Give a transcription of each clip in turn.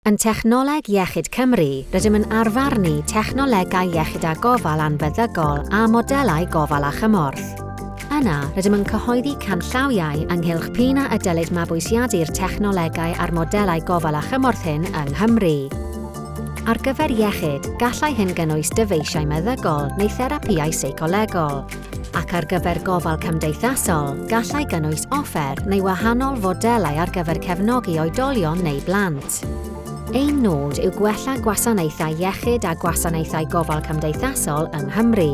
Yn Technoleg Iechyd Cymru, rydym yn arfarnu technolegau iechyd a gofal anfeddygol a modelau gofal a chymorth. Yna, rydym yn cyhoeddi canllawiau ynghylch p'un a ydylid mabwysiadu'r technolegau a'r modelau gofal a chymorth hyn yng Nghymru. Ar gyfer iechyd, gallai hyn gynnwys dyfeisiau meddygol neu therapïau seicolegol. ac ar gyfer gofal cymdeithasol, gallai gynnwys offer neu wahanol fodelau ar gyfer cefnogi oedolion neu blant. Ein nod yw gwella gwasanaethau iechyd a gwasanaethau gofal cymdeithasol yng Nghymru.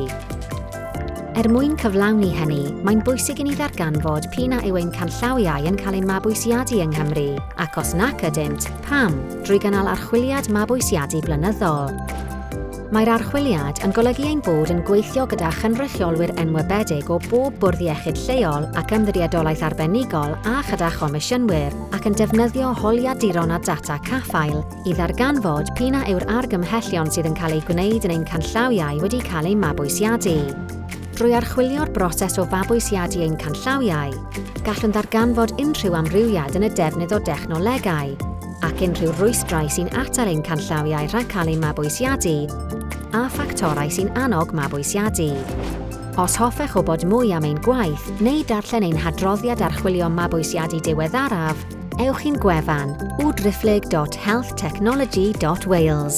Er mwyn cyflawni hynny, mae'n bwysig i ni ddarganfod p'un a yw ein canllawiau yn cael eu mabwysiadu yng Nghymru, ac os nac ydynt, pam, drwy gynnal archwiliad mabwysiadu blynyddol. Mae'r archwiliad yn golygu ein bod yn gweithio gyda chynrychiolwyr enwebedig o bob bwrdd iechyd lleol ac ymddiriedolaeth arbenigol a chyda chomisiynwyr, ac yn defnyddio holiaduron a data caffael i ddarganfod p'un a yw'r argymhellion sydd yn cael eu gwneud yn ein canllawiau wedi cael eu mabwysiadu. Drwy archwilio'r broses o fabwysiadu ein canllawiau, gallwn ddarganfod unrhyw amrywiad yn y defnydd o dechnolegau, ac unrhyw rwystrau sy'n atal ein canllawiau rhag cael eu mabwysiadu a ffactorau sy'n annog mabwysiadu. Os hoffech wybod mwy am ein gwaith neu darllen ein hadroddiad archwilio mabwysiadu diweddaraf, ewch i'n gwefan www.healthtechnology.wales.